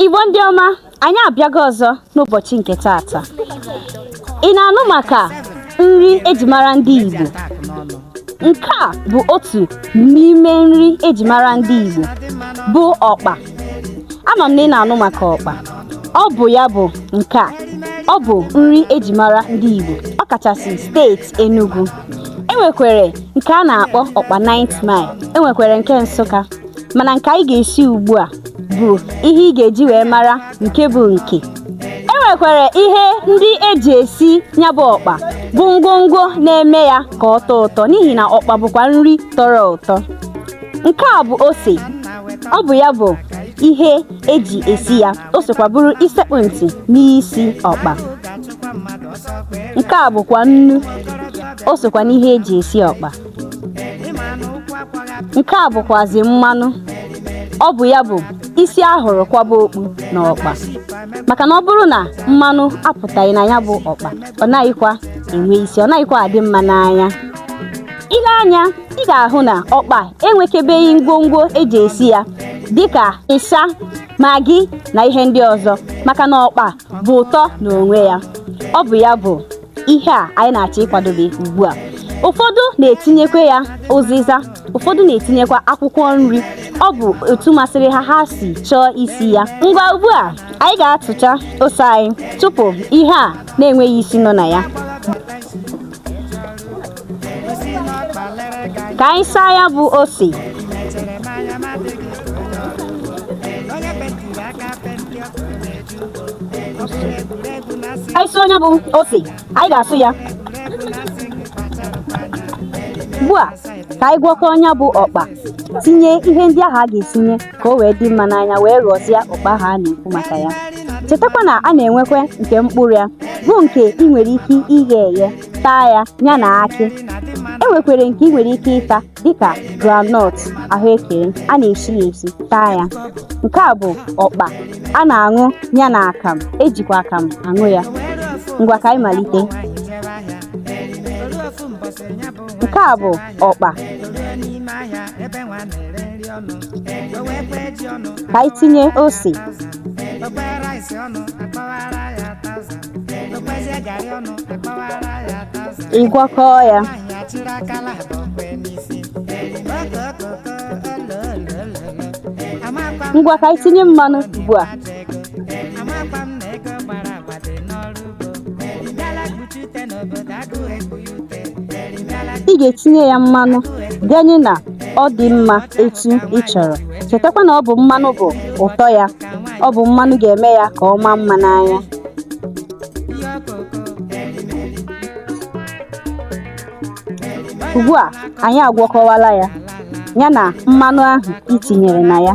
Igbo ndị ọma anyị abịago ọzọ n'ụbọchị nke taata ị na-anụ maka nri eji mara ndị Igbo nke a bụ otu n'ime nri eji mara ndị Igbo bụ ọkpa ama m na ị na-anụ maka ọkpa ọ bụ ya bụ nke a ọ bụ nri eji mara ndị Igbo ọ kachasị steeti Enugu enwekwere nke a na-akpọ ọkpa 9th Mile enwekwere nke Nsụka mana nke anyị ga-esi ugbu a bụ ihe ị ga-eji wee mara nke bụ nke e nwekwere ihe ndị eji esi nya bụ ọkpa bụ ngwongwo na-eme ya ka ọ tọọ ụtọ n'ihi na ọkpa bụkwa nri tọrọ ụtọ nke a bụ ose ọ bụ ya bụ ihe eji esi ya o sokwa bụrụ isekpụ ntị n'isi ọkpa nke a bụkwa nnu o sokwa n'ihe eji esi ọkpa nke a bụkwazi mmanụ ọ bụ ya bụ isi a hụrụ kwaba okpu na ọkpa maka na ọ bụrụ na mmanụ apụtaghị na nya bụ ọkpa ọ naghịkwa enwe isi ọ naghịkwa adị mma n'anya ile anya ị ga-ahụ na ọkpa enwekebeghị ngwongwo eji esi ya dịka ịsha Maggi na ihe ndị ọzọ maka na ọkpa bu ụtọ n'onwe ya ọ bụ ya bụ ihe a anyị na-achọ ịkwadobe ugbu a ụfọdụ na-etinyekwa ya ụzịza ụfọdụ na-etinyekwa akwụkwọ nri ọ bụ etu masịrị ha ha si chọọ isi ya ngwa ugbu a anyị ga-atụcha ose anyị tụpụ ihe a na-enweghị isi nọ na ya ka anyị saa ya bụ ose anyị sụọ nya bụ ose anyị ga-asụ ya ugbu a ka anyị gwọkọọ nya bụ ọkpa tinye ihe ndị ahụ a ga-etinye ka o wee dị mma n'anya wee ghọzie ọkpa ahụ a na-ekwu maka ya chetakwa na a na-enwekwa nke mkpụrụ ya bụ nke ị nwere ike ighe eghe taa ya nya na akị e nwekwere nke ị nwere ike ịta dịka groundnut ahụekere a na-esi ya esi taa ya nke a bụ ọkpa a na-aṅụ nya na akam ejikwa akam aṅụ ya ngwa ka anyị malite nke a bụ ọkpa ka anyị tinye ose ịgwakọ ya ngwa ka anyị tinye mmanụ ugbu a ị ga-etinye ya mmanụ ganye na ọ dị mma etu ị chọrọ chetakwa na ọ bụ mmanụ bụ ụtọ ya ọ bụ mmanụ ga-eme ya ka ọ maa mma n'anya ugbu a anyị agwọkọwala ya ya na mmanụ ahụ ị tinyere na ya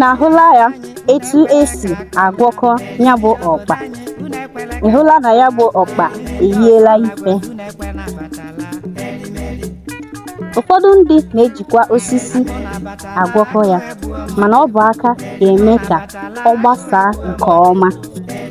na-ahụla ya etu esi agwọkọ ya bụ ọkpa ị hụla na ya bụ ọkpa eyiela ife ụfọdụ ndị na-ejikwa osisi agwọkọ ya mana ọ bụ aka ga-eme ka ọ gbasaa nke ọma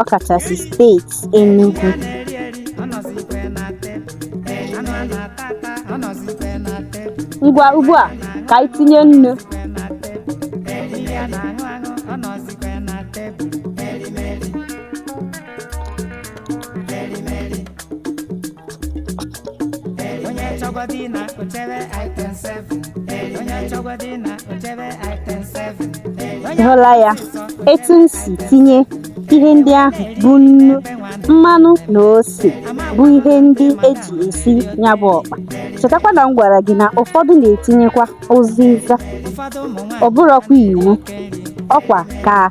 ọkachasị steeti Enugu ngwa ugbu a ka anyị tinye nnu onye chọgwa di na ochebe item 7 onye chọgwa di na ochebe item 7 Ị hụla ya etu m si tinye ihe ndị ahụ bụ nnu mmanụ na ose bụ ihe ndị eji esi ya bụ ọkpa chetakwa na m gwara gị na ụfọdụ na-etinyekwa ụzịza ụfọdụ ụmụ nwaanyị ọ bụrọkwa iwu ọkwa ka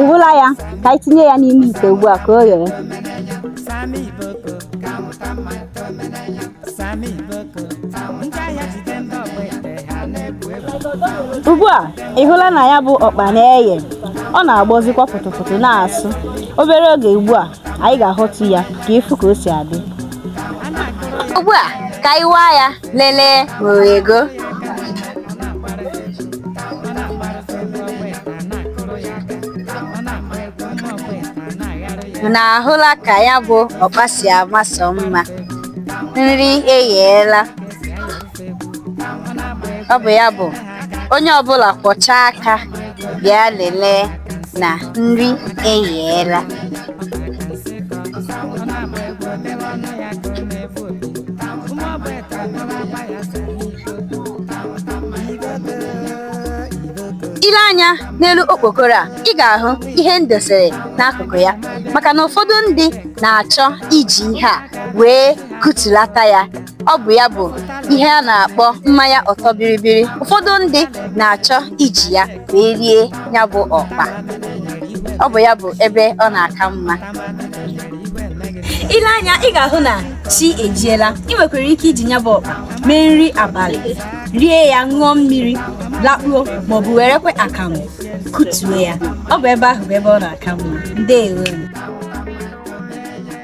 ị hụla ya ka anyị tinye ya n'ime ite ugbu a ka o ghere ugbu a ị hụla na ya bụ ọkpa na-eghe ọ na-agbọzikwa pụtụpụtụ na-asụ obere oge ugbu a anyị ga-ahọtu ya ka ị fụ ka o si adị ugbu a ka anyị waa ya lele nwere ego na-ahụla ka ya bụ ọkpa si ama sọ mma nri egheela ọ bụ ya bụ onye ọbụla kwọcha aka bịa lelee na nri eyeela i lee anya n'elu okpokoro a ị ga-ahụ ihe m dosere n'akụkụ ya maka na ụfọdụ ndị na-achọ iji ihe a wee kụtulata ya ọ bụ ya bụ ihe a na-akpọ mmanya ọtọ biribiri ụfọdụ ndị na-achọ iji ya wee rie ya bụ ọkpa ọ bụ ya bụ ebe ọ na-aka mma i lee anya ị ga-ahụ na chi ejiela i nwekwara ike iji ya bụ ọkpa mee nri abalị rie ya ṅụọ mmiri lakpuo maọbụ werekwe akamụ kutue ya ọ bụ ebe ahụ bụ ebe ọ na-aka mma ndeewo